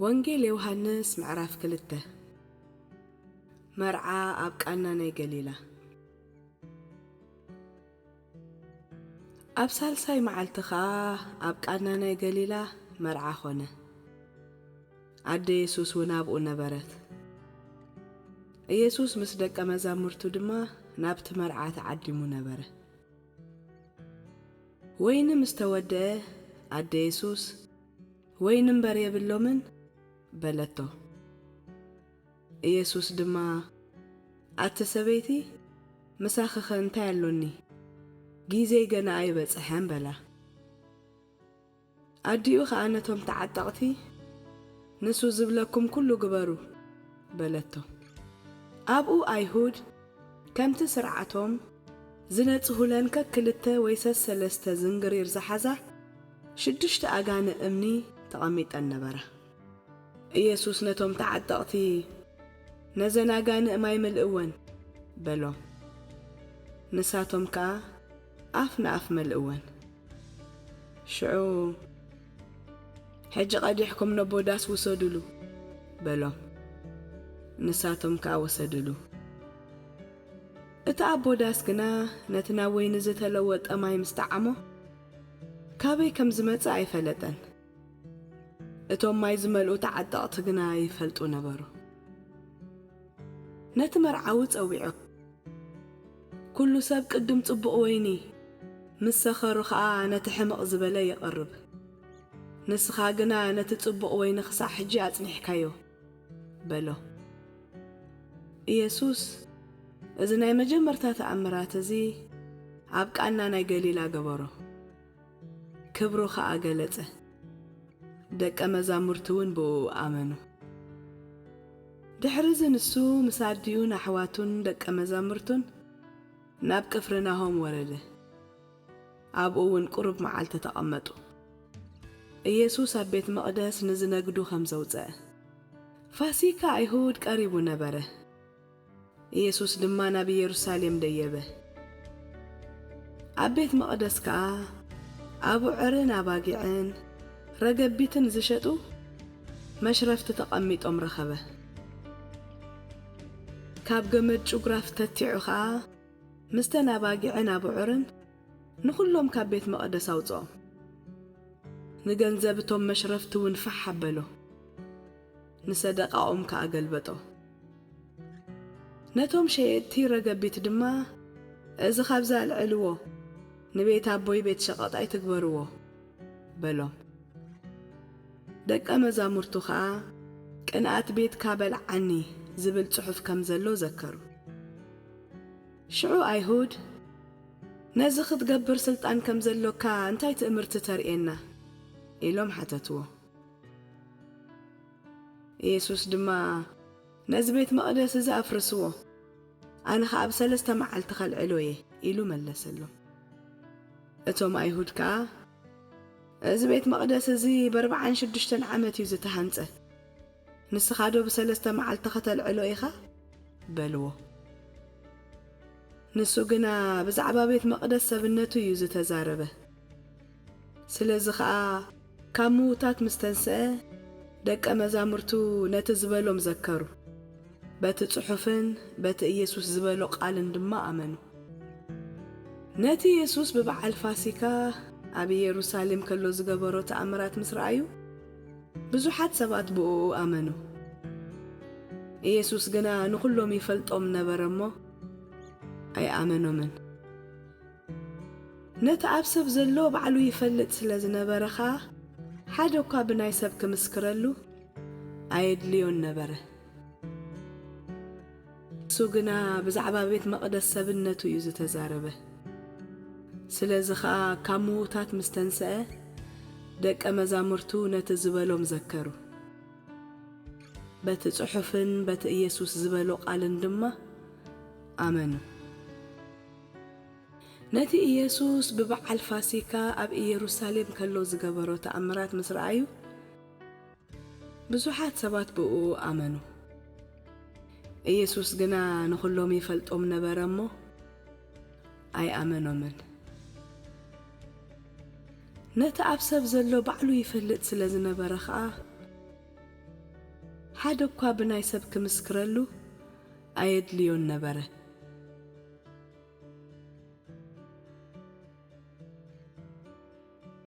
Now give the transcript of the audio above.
ወንጌል ዮሃንስ ምዕራፍ ክልተ መርዓ ኣብ ቃና ናይ ገሊላ። ኣብ ሳልሳይ መዓልቲ ኸኣ ኣብ ቃና ናይ ገሊላ መርዓ ዀነ። ኣደ የሱስውን ኣብኡ ነበረት። ኢየሱስ ምስ ደቀ መዛሙርቱ ድማ ናብቲ መርዓ ተዓዲሙ ነበረ። ወይኒ ምስ ተወድአ፣ ኣደ የሱስ፣ ወይኒ እምበር የብሎምን፣ በለቶ። ኢየሱስ ድማ ኣቲ ሰበይቲ ምሳኺኸ እንታይ ኣሎኒ ጊዜይ ገና ኣይበጽሐን በላ። ኣዲኡ ኸኣ ነቶም ተዓጠቕቲ ንሱ ዝብለኩም ኩሉ ግበሩ በለቶ። ኣብኡ ኣይሁድ ከምቲ ስርዓቶም ዝነጽሁለን ከክልተ ወይ ሰሰለስተ ዝንግሪር ዝሓዛ ሽዱሽተ ኣጋንእ እምኒ ተቐሚጠን ነበራ። ኢየሱስ ነቶም ተዓጠቕቲ፣ ነዘን ኣጋንእ ማይ ምልእወን፣ በሎም። ንሳቶም ከኣ ኣፍ ንኣፍ መልእወን። ሽዑ፣ ሕጂ ቀዲሕኩም ነቦ ዳስ ውሰዱሉ፣ በሎም። ንሳቶም ከኣ ወሰዱሉ። እቲ ኣቦ ዳስ ግና ነቲ ናብ ወይኒ ዝተለወጠ ማይ ምስ ጠዓሞ፣ ካበይ ከም ዝመጸ ኣይፈለጠን። እቶም ማይ ዝመልኡ ተዓጠቕቲ ግና ይፈልጡ ነበሩ። ነቲ መርዓዊ ጸዊዑ። ኵሉ ሰብ ቅድም ጽቡቕ ወይኒ፣ ምስ ሰኸሩ ኸኣ ነቲ ሕምቕ ዝበለ የቕርብ። ንስኻ ግና ነቲ ጽቡቕ ወይኒ ኽሳዕ ሕጂ ኣጽኒሕካዮ። በሎ። ኢየሱስ እዚ ናይ መጀመርታ ተኣምራት እዚ ኣብ ቃና ናይ ገሊላ ገበሮ። ክብሩ ኸኣ ገለጸ፣ ደቀ መዛሙርቱውን ብእኡ ኣመኑ። ድሕርዚ ንሱ ምስ ኣዲኡን ኣሕዋቱን ደቀ መዛሙርቱን ናብ ቅፍርናሆም ወረደ፣ ኣብኡውን ቁሩብ መዓልቲ ተቐመጡ። ኢየሱስ ኣብ ቤት መቕደስ ንዝነግዱ ኸም ዘውጸ፣ ፋሲካ ኣይሁድ ቀሪቡ ነበረ። ኢየሱስ ድማ ናብ ኢየሩሳሌም ደየበ። ኣብ ቤት መቕደስ ከኣ ኣቡዕርን ኣባጊዕን ረገቢትን ዚሸጡ መሽረፍቲ ተቐሚጦም ረኸበ። ካብ ገመድ ጩግራፍ ተቲዑ ኸኣ ምስተን ኣባጊዕን ኣቡዕርን ንኹሎም ካብ ቤት መቕደስ ኣውጽኦም። ንገንዘብ እቶም መሽረፍቲውን ፋሕ ኣበሎ። ንሰደቓኦም ከኣ ገልበጦ። ነቶም ሸየጥቲ ረገቢት ድማ፣ እዚ ኻብዚ ኣልዕልዎ፣ ንቤት ኣቦይ ቤት ሸቐጥ ኣይትግበርዎ፣ በሎም። ደቀ መዛሙርቱ ኸኣ፣ ቅንኣት ቤትካ በልዓኒ ዚብል ጽሑፍ ከም ዘሎ ዘከሩ። ሽዑ ኣይሁድ፣ ነዚ ኽትገብር ስልጣን ከም ዘሎካ እንታይ ትእምርቲ ተርእየና? ኢሎም ሓተትዎ። ኢየሱስ ድማ ነዚ ቤት መቕደስ እዚ ኣፍርስዎ፣ ኣነ ኸኣ ኣብ ሠለስተ መዓልቲ ኸልዕሎ እየ ኢሉ መለሰሎም። እቶም ኣይሁድ ከኣ እዚ ቤት መቕደስ እዚ በርብዓን ሽዱሽተን ዓመት እዩ ዝተሃንጸ፣ ንስኻዶ ብሰለስተ መዓልቲ ኸተልዕሎ ኢኻ? በልዎ። ንሱ ግና ብዛዕባ ቤት መቕደስ ሰብነቱ እዩ ዝተዛረበ። ስለዚ ኸኣ ካብ ምዉታት ምስ ተንስኤ፣ ደቀ መዛሙርቱ ነቲ ዝበሎም ዘከሩ። በቲ ጽሑፍን በቲ ኢየሱስ ዝበሎ ቓልን ድማ ኣመኑ። ነቲ የሱስ ብበዓል ፋሲካ ኣብ ኢየሩሳሌም ከሎ ዝገበሮ ተኣምራት ምስ ረኣዩ፣ ብዙሓት ሰባት ብእኡ ኣመኑ። ኢየሱስ ግና ንኹሎም ይፈልጦም ነበረ እሞ፣ ኣይኣመኖምን። ነቲ ኣብ ሰብ ዘሎ ባዕሉ ይፈልጥ ስለ ዝነበረ ኸኣ፣ ሓደ እኳ ብናይ ሰብ ክምስክረሉ ኣየድልዮን ነበረ። ንሱ ግና ብዛዕባ ቤት መቕደስ ሰብነቱ እዩ ዝተዛረበ። ስለዚ ኸኣ ካብ ምዉታት ምስ ተንስኤ፣ ደቀ መዛሙርቱ ነቲ ዝበሎም ዘከሩ። በቲ ጽሑፍን በቲ ኢየሱስ ዝበሎ ቓልን ድማ ኣመኑ። ነቲ ኢየሱስ ብበዓል ፋሲካ ኣብ ኢየሩሳሌም ከሎ ዝገበሮ ተኣምራት ምስ ረኣዩ፣ ብዙሓት ሰባት ብእኡ ኣመኑ። ኢየሱስ ግና ንኹሎም ይፈልጦም ነበረ እሞ፣ ኣይኣመኖምን። ነቲ ኣብ ሰብ ዘሎ ባዕሉ ይፈልጥ ስለ ዝነበረ ኸኣ፣ ሓደ እኳ ብናይ ሰብ ክምስክረሉ ኣየድልዮን ነበረ።